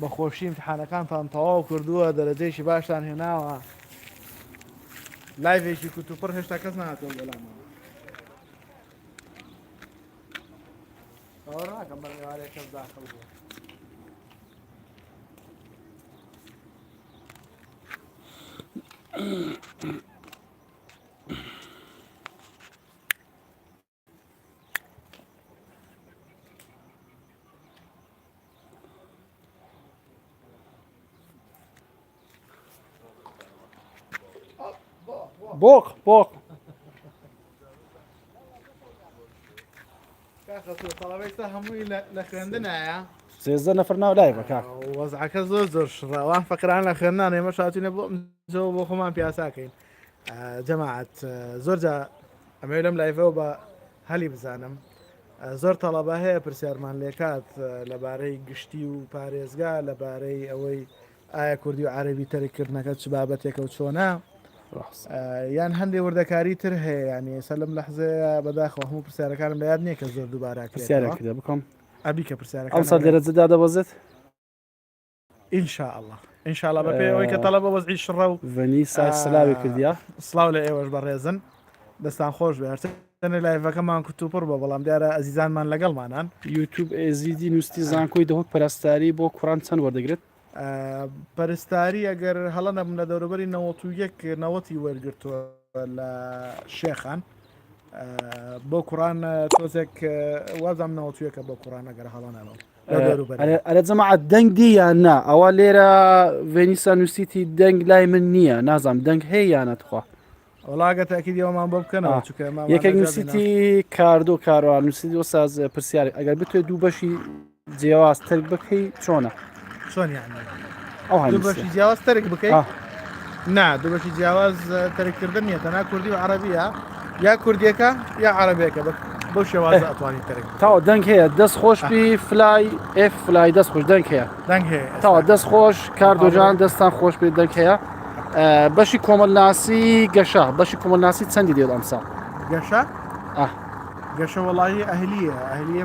بە خۆشی ئیمتحانەکانتان تەواو کردووە دەرەجەیەکی باشتان هێناوە لایڤێکی کوتوپڕ هێشتا کەس نهاتەوە بەلامەوە باوەڕ ناکەم بەم ئێوارەیە کەس داخڵ بوو Mm-hmm. بۆق بۆق سێزدە نەفر ناو لای بەکار وەزعەکە زۆر زۆر شڕەوان فەکران لە خوێندان ئێمە شاتینە بۆ بۆ خۆمان پیاساکەین جەماعەت زۆر جا ئەمەوێت لەم لایڤەوە بە هەلی بزانم زۆر تەڵەبە هەیە پرسیارمان لێکات لەبارەی گشتی و پارێزگا لەبارەی ئەوەی ئایا کوردی و عربی تەرککردنەکە چ بابەتێکە و چۆنا یان هەندێک وردەکاری تر هەیە ینی ئێستا لەم لەحزەیە بەداخەوە هەموو پرسیارەکانم لە یاد نییە کە زۆر دووبارە پرسیارەکە بکەم ئەبی کە پرسیارەکە ئەم سا لێرە جدا دەبەزێت ان شاء اللە ان شاء اللە بەپێی ئەوەی کە تەڵەبە وەزعی شڕە و ڤەنی سای سلاوی کردیا سلااو لە ئێوەش بەڕێزن دەستان خۆش بێت تەنێ لایڤەکەمان کوتوپڕ بە بەڵام دیارە ئەزیزانمان لەگەڵمانان یوتوب ئێزیدی نووسی زانکۆی دەهۆک پەرستاری بۆ کوڕان چەند وەردەگرێت پەرستاری ئەگەر هەڵە نەبم لە دەوروبەری 91 نەوەتی وەرگتووە لە شێخان بۆ کوڕان تۆزێک وازام نەوەتویەکە بۆ کوڕان ئەگەر هەڵە نەبم ئەرە جەماعات دەنگ دی یان نا ئەوە لێرە ڤێنیسا نووسیتی دەنگ لای من نییە نازانم دەنگ هەیە یانە تخوا وڵاگە تاکیدیەوەمان بۆ بکەنەوە چکە یەکێک نووسیتی کاردۆ کاروان نووسیتی وە ساز پرسیارێک ئەگەر بتوێت دوو بەشی جیاواز ترک بکەی چۆنە چۆن یان دوو بەشی جیاواز تەرک بکەیت نا دوو بەشی جیاواز تەرککردن نیە تەنا کوردی و عربیە یا کوردیەکە یا عربێکە بە بۆ شێواز ئەتوانی تەرک تاوە دەنگ هەیە دەست خۆش بی فلای ئف فلای دەست خۆش دەنگ هەیە دەنگ هەیە تاوە دەست خۆش کاردۆژان دەستان خۆش بێت دەنگ هەیە بەشی کۆمەلناسی گەشە بەشی کۆمەلناسی چەندی دێت ئەمسا گەشە گەشە وڵی ئەهلیە ئەهلیە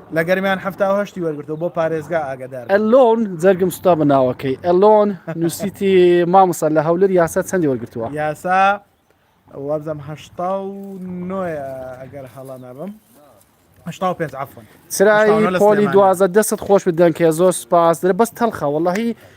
لە گەرمیان حەفتا و هەشتی وەرگرتووە بۆ پارێزگا ئاگەدار بن. ئەلۆن جەرگم سوتا بە ناوەکەی ئەلۆن نوسیتی مامۆستا لە هەولر یاسا چەندی وەرگرتووە؟ یاسا وابزانم هەشتا و نۆ ئەگەر هەڵە نەبم هەشتا و پێنج عەفوەن. چرای پۆلی دوازدە دەستت خۆش بێت دەنکە زۆر سوپاس درە بەس تەڵخە وەڵاهی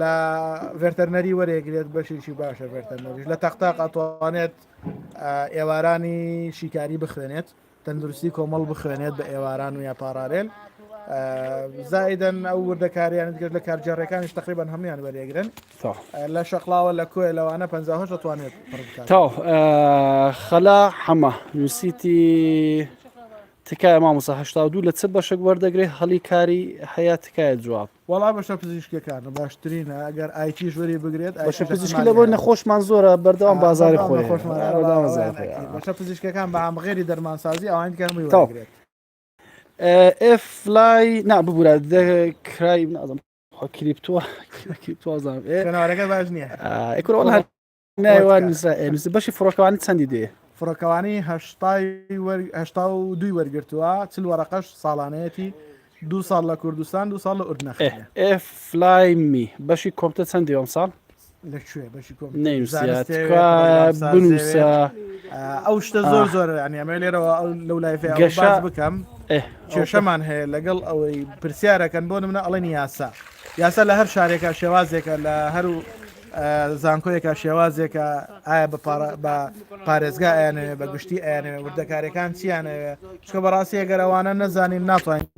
لە ڤێرتەرنەری وەرێگرێت بەشێکی باشە ڤێرتەرنەریش لە تەختاق ئەتوانێت ئێوارانی شیکاری بخوێنێت تەندروستی کۆمەڵ بخوێنێت بە ئێواران و یا پارارێل زایدن ئەو وردەکاریان گەشت لە کارجارەکانیش تقریبان هەمویان وەرێگرن لە شەقلاوە لە کۆی لەوانە 50 دەتوانێت تا خەلا حەمە نووسیتی تکایە مامۆسا هشتا دوو لە چ بەشک وەردەگرێت هەڵی کاری هەیە تکایە جواب وەڵا بەشە پزیشکیەکانە باشترینە ئەگەر ئایتیش وەری بگرێت بەشە پزیشکی لە بۆی نەخۆشمان زۆرە بەردەوام بازاری خۆی بەشە پزیشکەکان بە ئامغێری دەرمانسازی ئەوان دیکە هەمووی وەرگرێت ئف لای نا ببوورە کرای نازم کریپتوە کریپتوازانەوەەکە باش نییە ئەکرۆڵ بەشی فڕۆکەوانی چەندی دێ فڕۆکەوانی هشتا و دوی وەرگتووە چل وەرەقەش ساڵانەتی دو ساڵ لە کوردستان دو ساڵ لە ئوردنە فلایمی بەشی کۆمپتە چەند دیوەم ساڵ لەکوێ بەشی کۆم بنووسە ئەو شتە زۆر زۆر ئەمە لێرەوە ئەو لەو لای گەشە بکەم کێشەمان هەیە لەگەڵ ئەوەی پرسیارەکەن بۆ منە ئەڵێن یاسا یاسا لە هەر شارێکە شێوازێکە لە هەرو زانکۆیەکە شێوازێکە ئایا بە پارێزگا ئەیانەوێ بە گشتی ئەیانەوێ وردەکارەکان چیانەوێ چکە بەڕاستی ئەگەرەوانە نەزانین ناتوانین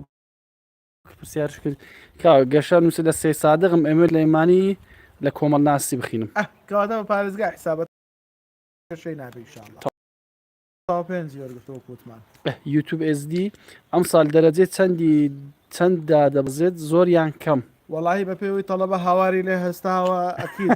پرسیار کرد کا گەشە نووسی لە سێ سادغم ئەمێت لە ئیمانی لە کۆمەڵ ناسی بخینم کەواتە بە پارێزگا حسابەت شەی نابیشان یوتوب SD ئەمسال دەرەجەی چەندی چەند دادەبەزێت زۆر یان کەم؟ وەڵاهی بەپێوەی تەڵەبە هاواری لێ هەستاوە ئەکید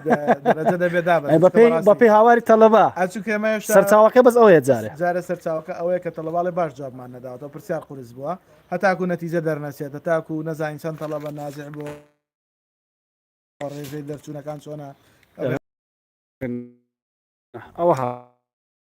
دەرەجە دەبێ دابەزێت بەپێی بەڕاستی بەپێی هاواری تەڵەبە ئەچوو کە ئێمە هێشتا سەرچاوەکە بەس ئەوەیە جارێ جارێ سەرچاوەکە ئەوەیە کە تەڵەباڵێ باش جوابمان نەداوەتەوە پرسیار قورس بووە هەتاکوو نەتیجە دەرنەچێت هەتاکوو نەزانین چەند تەڵەبە ناجح بووە ڕێژەی دەرچوونەکان چۆنە ئەوەها.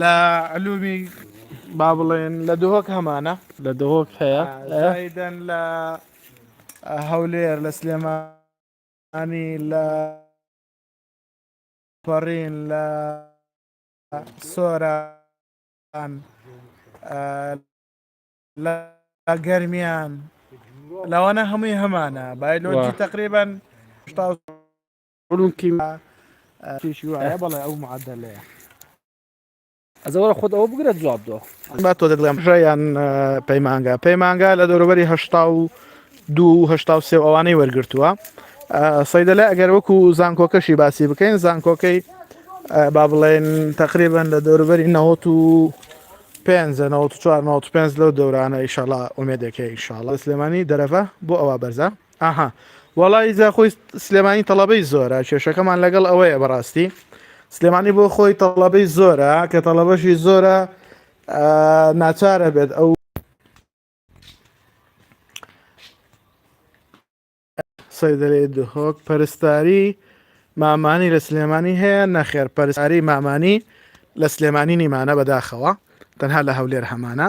لە علومی با بڵێن لە دهۆک هەمانە لە دهۆک هەیە دەن لە هەولێر لە سلێمانی لە پەڕین لە سۆرە لە گەرمیان لەوانە هەمووی هەمانە بایلۆجی تقریبان علوم کیمیا تیشی وایە بەڵێ ئەو معدلەیە ئەزەوەرە خۆت ئەوە بگرە جواب دۆ با تۆ دەگڵێم ژیان پەیمانگا پەیمانگا لە دەوروبەری هشتا و دوهشتا و سێ ئەوانەی وەرگتووە سەیدەلا ئەگەر وەکو زانکۆکەشی باسی بکەین زانکۆکەی با بڵێن تقریبان لە دەوروبەری نەوەت و پێنج چوار پێنج لەو دەورانە ئیشەڵا ئومێدەکە ئیشاڵە سلێمانی دەرەفە بۆ ئەوە بەرزە ئەها وەڵا ی زاخۆی سلێمانی تەڵەبەی زۆرە کێشەکەمان لەگەڵ ئەوەیە بەڕاستی سلێمانی بۆ خۆی تەڵەبەی زۆرە کە تەڵەبەشی زۆرە ناچارە بێت ئەو سەیدەێ دهۆک پەرستاری مامانی لە سلێمانی هەیە نەخێر پەرساری مامانی لە سلێمانی نیمانە بەداخەوە تەنها لە هەولێر هەمانە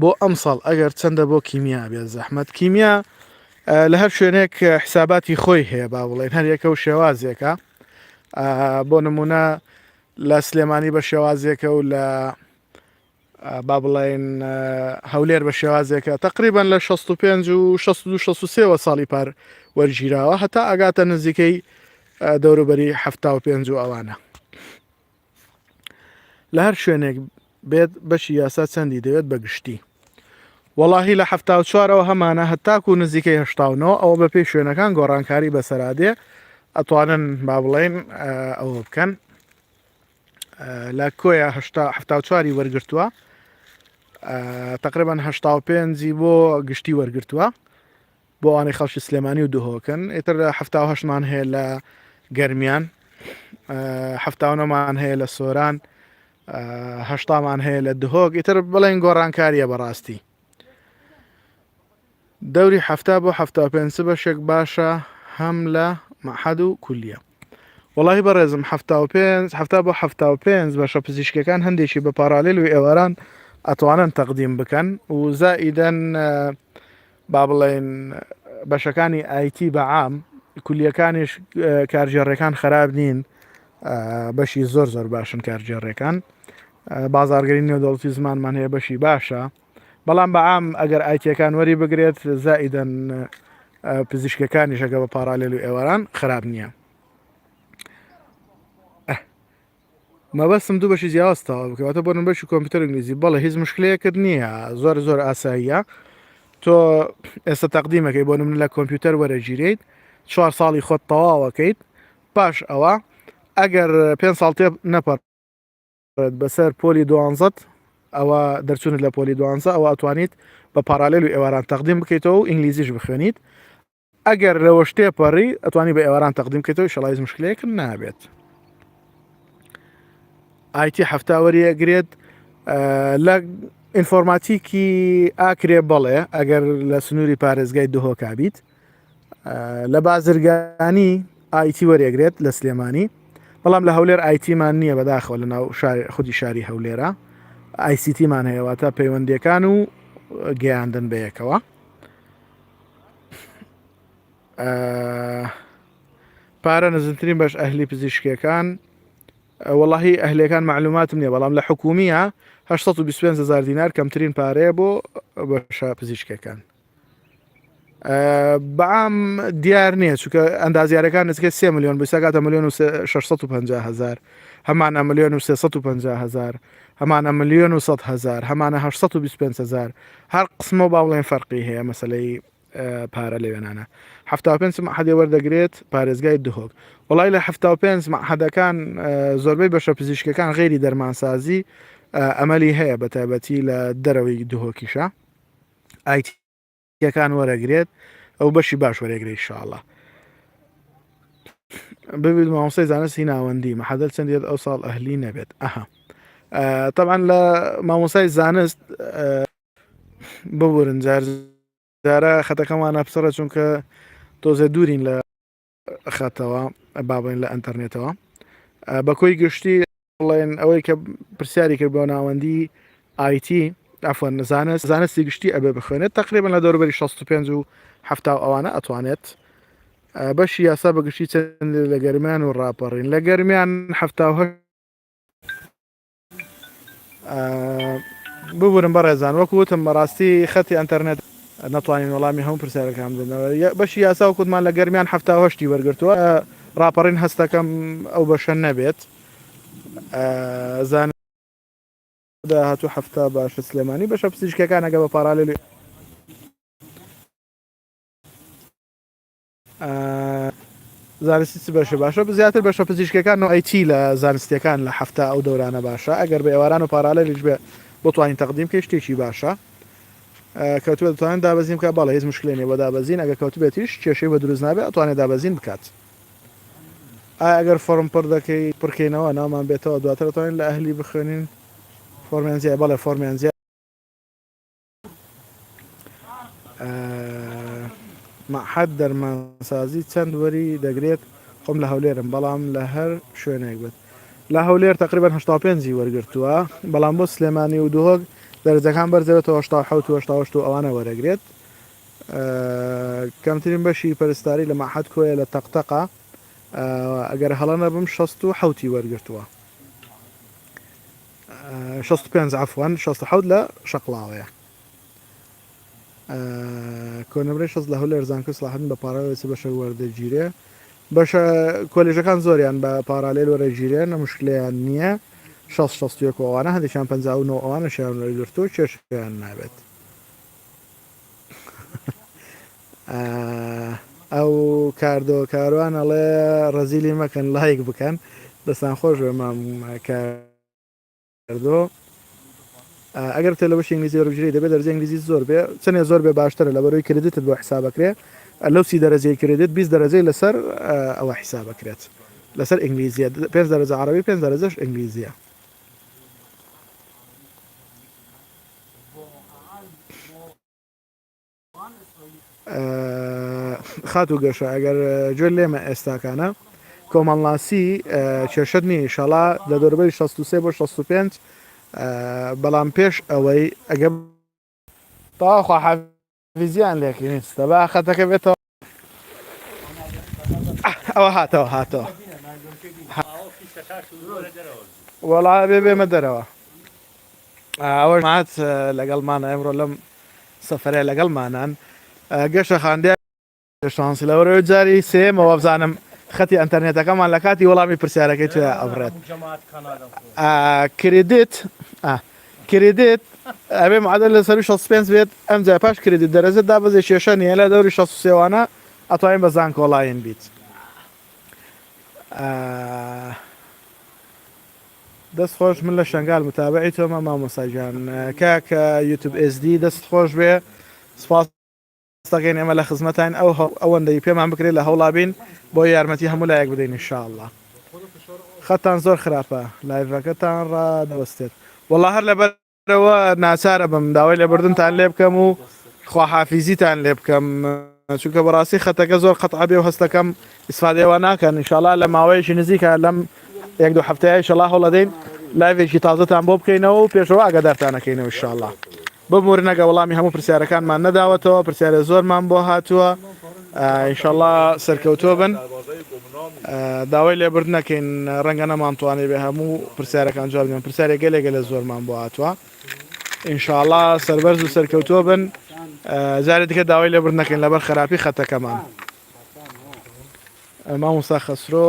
بۆ ئەمساڵ ئەگەر چەندە بۆ کیمیا بێت زەحمەت کیمیا لە هەر شوێنێک حساباتی خۆی هەیە با بڵێن هەریەکە و شێوازێکە بۆ نمونە لە سلێمانی بە شێوازێکە و لە با بڵین هەولێر بە شێوازێکە تقریبان لە 65 و 16 ساڵی پار وەرگیراوە هەتا ئەگاتە نزیکەی دەوروبەری ه پێ و ئەوانە. لە هەر شوێنێک بێت بەشی یاسا چەندی دەوێت بە گشتی وەڵاهی لە هەفتا و چوارەوە هەمانە هەتاکو و نزیکەی هشتاونەوە ئەوە بە پێی شوێنەکان گۆڕانکاری بەسەرادێ ئەتوانن با بڵێن ئەوە بکەن لە کۆیە هەفتا چواری وەرگتووە تقریبان هشتا و پێنجی بۆ گشتی وەرگتووە بۆ ئەوانەی خەڵکی سلێمانی و دهۆکن ئیتر حفتا و هەشتمان هەیە لە گەرمیان هەفتاونەمان هەیە لە سۆران هەشتامان هەیە لە دهۆک ئیتر بڵێن گۆڕانکاریە بەڕاستی دەوری هەفتا بۆ هەفتا پێ بەشێک باشە هەم لە مەحەد و کولیە وڵی بەڕێزم هەفتا و پێ هەفتا بۆ هەفتا و پێ بەشە پزیشکەکان هەندێکی بە پارالل و ئێواران ئەتوانن تەقدیم بکەن و زائیدەن با بڵێین بەشەکانی IT بە عام کولیەکانیش کارگێڕیەکان خراپ نین بەشی زۆر زۆر باشن کارگێڕیەکان بازارگەری نێودەڵتی زمانمان هەیە بەشی باشە بەڵام بە عام ئەگەر ئایتیەکان وەری بگرێت زائیدەن پزیشکەکانیشەکە بە پارالێل و ئێواران خراپ نییە مەبەستم دوو بەشی جیاواز تەواو بکەی واتە بۆ نمبەشی کۆمپیوتەر ئینگلیزی بەڵێ هیچ مشکلەیەکت نییە زۆر زۆر ئاساییە تۆ ئێستا تەقدیمەکەی بۆ نمن لە کۆمپیوتەر وەرەگیریت چوار ساڵی خۆت تەواوەکەیت پاش ئەوە ئەگەر پێ ساڵ تێ نەپەر بەسەر پۆلی دوانزت ئەوە دەرچوونت لە پۆلی دوانزە ئەوە ئەتوانیت بە پارالێل و ئێواران تەقدیم بکەیتەوە و ئینگلیزیش بخوێنیت ئەگەر لەوەش تێپەڕی ئەتوانی بە ئێواران تەقدیم کەێتەوە شڵی هیچ مشکلەیەکم نابێت ئایتی هەفتا وەریەگرێت لە ئینفۆرماتیکی ئاکرێ بەڵێ ئەگەر لە سنووری پارێزگای دهۆکبیت لە بازرگانی ئایتی وەرێگرێت لە سلێمانی بەڵام لە هەولێر ئایتیمان نییە بەداخەوە لە ناو خودی شاری هەولێرە ئایسیتیمان هەیەواتە پەیوەندەکان و گەیاندن بەیەکەوە پارە نزمترین بەش ئەهلی پزیشکەکان وەڵی ئەهلەکان معلوماتم نیە بەڵام لە حکومیە 1920هزار دینار کەمترین پارەیە بۆ بەشە پزیشکەکان بەعام دیار نییە چکە ئەندازیارەکان نزکە سێ میلیۆن بسەکاتە میلیۆن و 650هزار هەمانە میلیۆن و 350هزار هەمانە ملیۆن و سەد هەزار هەمانە هەشت سەد و بیست و پێنج هەزار هەر قسمەوە با بڵێن فەرقی هەیە مەسلەی پارە لەوێنانە هەفتا و پێنج مەحەدێ وەردەگرێت پارێزگای دهۆک وڵای لە هەفتا و پێنج مەحەدەکان زۆربەی بەشە پزیشکەکان غێری دەرمانسازی ئەمەلی هەیە بە تایبەتی لە دەرەوەی دهۆکیشە ئایتی یەکان وەرەگرێت ئەو بەشی باش وەرەگری شاڵە ببیت مامۆسای زانستی ناوەندی مەحەدەل چەندێت ئەو ساڵ ئەهلی نەبێت ئەها طبعا لە مامۆسای زانست ببورن جار جارە خەتەکەمانە پسڕە چونکە تۆزە دوورین لە خاتەوە بابڵێن لە ئەتەرنێتەوە بەکۆی گشتی بڵێن ئەوەی کە پرسیاری کرد بۆ ناوەندی آیتی ئەفۆن نزانە زانستی گشتی ئەبێ بخوێنێت تقریبان لە دەوروبەری 65 و ه ئەوانە ئەتوانێت بەشی یاسا بەگشتی چەند لە گەرمیان و ڕاپەڕین لە گەرمیان هه ببورن بەڕێزان وەکو وتم بەڕاستی خەتی ئەنتەرنێت نەتوانین وەڵامی هەموو پرسیارەکان بدەنەوە بەشی یاسا و کوتمان لە گەرمیان هەشتی وەرگرتووە ڕاپەڕین هەستەکەم ئەو بەشە نەبێت زان داهاتوو هەفتا باشە سلێمانی بەشە پزیشکەکانەگە بە پارالێلی زانستی چ بەشێ باشە؟ زیاتر بەشە پزیشکەکان و IT لە زانستیەکان لە هەفتە ئەو دەورانە باشە ئەگەر بە ئێواران و پارالەلیش بێ بۆ توانین تەقدیم کە شتێکی باشە کەوتوە دەتوانن دابەزین بکە بەڵێ هیچ مشکلێنێ بۆ دابەزین ئەگە کەوتبێتیش کێشەی بە دروست نابێت ئەتوانێت دابەزین بکات ئەگەر فۆرم پڕ دەکەی پڕکەینەوە نامان بێتەوە دواتر دەتوانین لە ئەهلی بخوێنین فۆرمیان زیای بەڵێ فۆرمیان زیای مەعهەد دەرمانسازی چەند وەری دەگرێت خۆم لە هەولێرم بەڵام لە هەر شوێنێک بێت لە هەولێر تقریبان 5 وەرگتووە بەڵام بۆ سلێمانی و دهۆک دەرجەکان بەرزەوێتەوە ئەوانە وەرەگرێت کەمترین بەشی پەرستاری لە مەحەد کۆیە لە تەقتەقا ئەگەر هەڵە نەبم 16 حوتی وەرگتووە شەست و پێنج عەفوەن شەست و حەوت لە شەقڵاوەیە کۆنمرەی شەست لە هەولێر زانکۆی سەڵاحەدین بە پاراوێ چ بەشێک وەردەگیرێ بەشە کۆلێژەکان زۆریان بە پارالێل وەرەگیرێن نە مشکلیان نییە شەست شەست و یەک ئەوانە هەندێکیان پەنجا و نۆ ئەوانەشیان وەرگرتووە کێشیان نابێت ئەو کاردۆ کاروان ئەڵێ ڕەزیلی مەکەن لایک بکەن دەستان خۆش بێ مام کاردۆ ئەگەر تێ لە بەشی ئینگلیزی وەربژری دەبێت دەرجە ئینگلیزی زۆر بێ چەندێ زۆر بێ باشترە لە بەرۆی کردیتت بۆ حسابەکرێ لەو سی دەرەجەی کردێت بیست دەرەجەی لەسەر ئەوە حسابەکرێت لەسەر ئینگلیزیە پێ دەرەجە عربی پێ دەرەجەش ئینگلیزیە خاتو گەشە ئەگەر گوێ لێمە ئێستاکانە کۆمەڵناسی کێشت نیە شەڵا لە دەربەری 16 بۆ 65 بەڵام پێش ئەوەی ئەگەم تاخوا فیزیان لێکی نیستە با خەتەکە بێتەوە ئەوە هاتەوە هاتەوە وەڵا بێ بێمە دەرەوە ئەوە مات لەگەڵمانە ئەمڕۆ لەم سەفرە لەگەڵمانان گەشە خاندیا شانسی لە وەرەوەی جاری سێیەمەوە بزانم خەتی ئەنتەرنێتەکەمان لە کاتی وەڵامی پرسیارەکەی توێ ئەبڕێت کریدیت کریدیت ئەبێ معادل لە سەر 65 بێت ئەم جای پاش کریدیت دەرەجە دابەزێ کێشە نیە لە دەوری 6 سێوانە ئەتوانین بە زانکۆڵاین بیت دەست خۆش من لە شنگال متابعی تۆمە مامۆساجان کاکە یوتوب ئسD دەست خۆش بێ سپاس ڕاستەقین ئێمە لە خزمەتاین ئەو ئەوەندەی پێمان بکرێت لە هەوڵا بین بۆ یارمەتی هەموو لایەک بدەین ان شاء اللە خەتتان زۆر خراپە لایڤەکەتان ڕادەوەستێت وەڵا هەر لەبەرەوە ناچارە بم داوای لێبردنتان لێ بکەم و خواحافیزیتان لێ بکەم چونکە بەڕاستی خەتەکە زۆر قەتعابێ و هەستەکەم ئیسفادەوە ناکەن انشاءڵا لە ماوەیەکی نزیکە لەم یەک دو هەفتەیە شەڵا هەڵەدەین لایڤێکی تازەتان بۆ بکەینەوە و پێشەوە ئاگادارتانەکەینەوە شاءڵا ببورنەگە وەڵامی هەموو پرسیارەکانمان نەداوەتەوە پرسیارێ زۆرمان بۆ هاتووە ئینشەڵا سەرکەوتوە بن داوای لێبردنەکەین ڕەنگە نەمانتوانێ بێ هەموو پرسیارەکان جوابیان پرسیارێ گەلێ گەلە زۆرمان بۆ هاتووە ئینشاءڵا سەربەرز و سەرکەوتووە بن جارێ دیکە داوای لێبردنەکەین لەبەر خراپی خەتەکەمان مامۆستا خەسرۆ